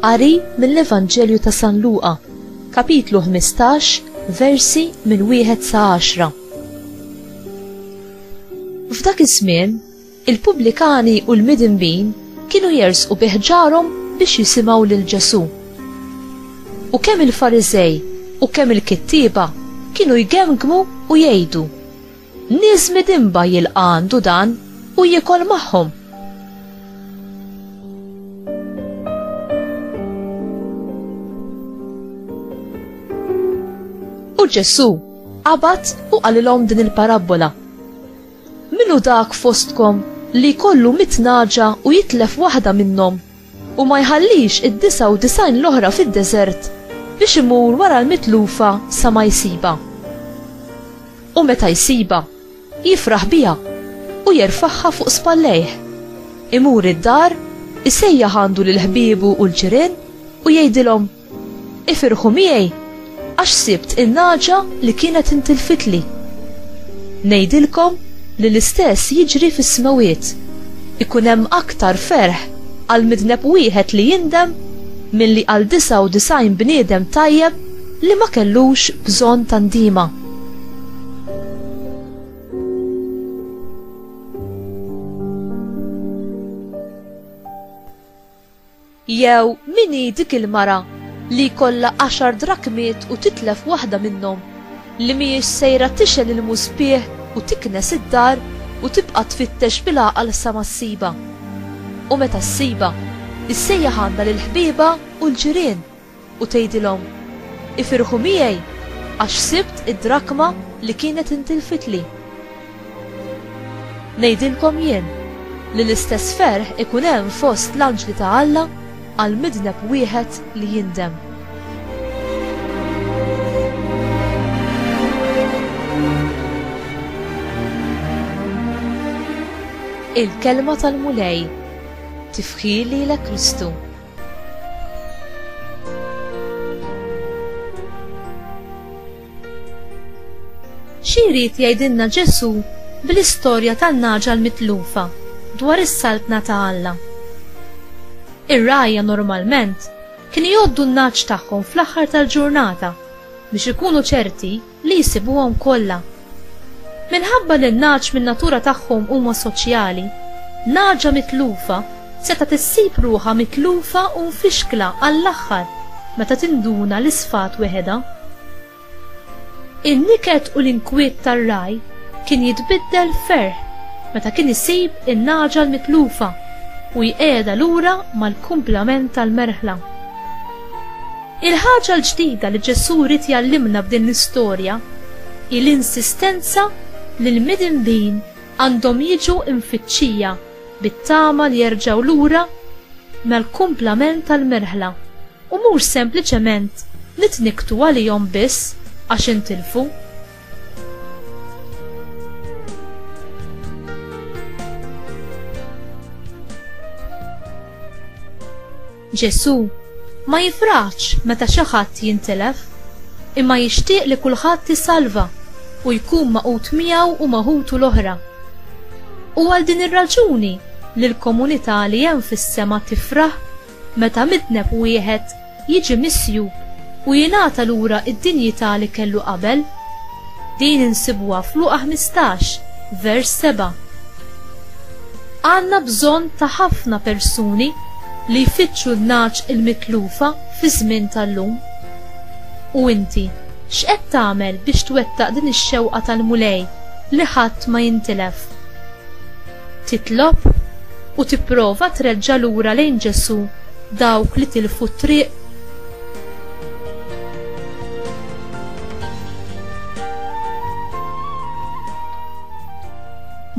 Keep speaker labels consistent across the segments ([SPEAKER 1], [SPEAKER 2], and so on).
[SPEAKER 1] Qari mill-Evanġelju ta' San Luqa, kapitlu 15, versi minn wieħed sa 10. F'dak iż-żmien, Il-pubblikani u l-midinbin kienu jersqu bi ħġarhom biex jisimgħu lil Ġesù. U kemm il-Fariżej u kemm il-kittieba kienu jgemgmu u jgħidu, Nies midinba jilqa' għandu dan u jiekol magħhom! U Ġesù qabad u qalilhom din il-parabbola, Min hu dak fostkom li jkollu mitt nagħġa u jitlef waħda minnhom, u ma jħallix id-disgħa u disgħin l-oħra fid-deżert biex imur wara l-mitlufa sa ma jsibha? U meta jsibha, jifraħ biha u jerfagħha fuq spallejh. Imur id-dar, isejjaħ għandu lil ħbiebu u l-ġirien u jgħidilhom, Ifirħu miegħi għax sibt in-nagħġa li kienet intilfitli. Ngħidilkom li l-istess jiġri fis-smewwiet, ikun hemm aktar ferħ għal midneb wieħed li jindem milli għal disgħa u disgħin bniedem tajjeb li ma kellux bżonn ta' ndiema. Jew min hi dik il-mara li jkollha għaxar drakmiet u titlef waħda minnhom, li mhijiex sejra tixgħel il-muspieħ u tiknes id-dar u tibqa' tfittex bil-għaqal sa ma ssibha? U meta ssibha, issejjaħ għandha lill-ħbiebha u l-ġirien. u tgħidilhom, 'Ifirħu miegħi għax sibt id-drakma li kienet intilfitli'? Ngħidilkom jien li l-istess ferħ ikun hemm fost l-anġli ta' Alla għal midneb wieħed li jindem. Il-Kelma tal-Mulej, Tifħir lilek Kristu. Xi jrid jgħidilna Ġesù bl-istorja tan-nagħġa l-mitlufa dwar is-saltna ta' Alla? Ir-rgħajja normalment kienu jgħoddu n-nagħaġ tagħhom fl-aħħar tal-ġurnata biex ikunu ċerti li jsibuhom kollha. Minħabba li n-nagħaġ min-natura tagħhom huma soċjali, nagħaġa mitlufa setgħet issib ruħha mitlufa u mfixkla għall-aħħar meta tinduna li sfat weħedha. In-niket u l-inkwiet tar-ragħaj kien jitbiddel f'ferħ meta kien isib in-nagħaġa l-mitlufa u jqiegħedha lura mal-kumplament tal-merħla. Il-ħaġa l-ġdida li Ġesù ried jgħallimna b'din l-istorja hi l-insistenza li l-midinbin għandhom jiġu mfittxija bit-tama li jerġgħu lura mal-kumplament tal-merħla u mhux sempliċement nitnikktu għalihom biss għax intilfu. Ġesù ma jifraħx meta xi ħadd jintilef, imma jixtieq li kulħadd isalva u jkun magħqud miegħu u ma' ħutu l-oħra. Hu għal din ir-raġuni li l-komunità li hemm fis-sema tifraħ meta midneb wieħed jiġi misjub u jingħata lura d-dinjità li kellu qabel. Din insibuha f'Luqa 15, vers 7. Għandna bżonn ta' ħafna persuni li jfittxu n-nagħaġ il-mitlufa fiż-żmien tal-lum. U inti, x'qed tagħmel biex twettaq din ix-xewqa tal-Mulej li ħadd ma jintilef? Titlob u tipprova treġġa' lura lejn Ġesù dawk li tilfu t-triq?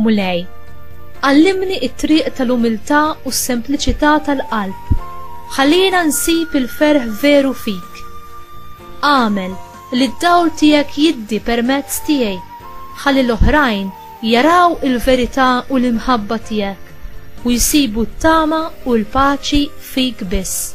[SPEAKER 1] Mulej, għallimni t-triq tal-umiltà u s-sempliċità tal-qalb. Ħallina nsib il-ferħ veru fik. Agħmel li d-dawl tiegħek jiddi permezz tiegħi ħalli l-oħrajn jaraw il-verità u l-imħabba tiegħek u jsibu t-tama u l-paċi fik biss.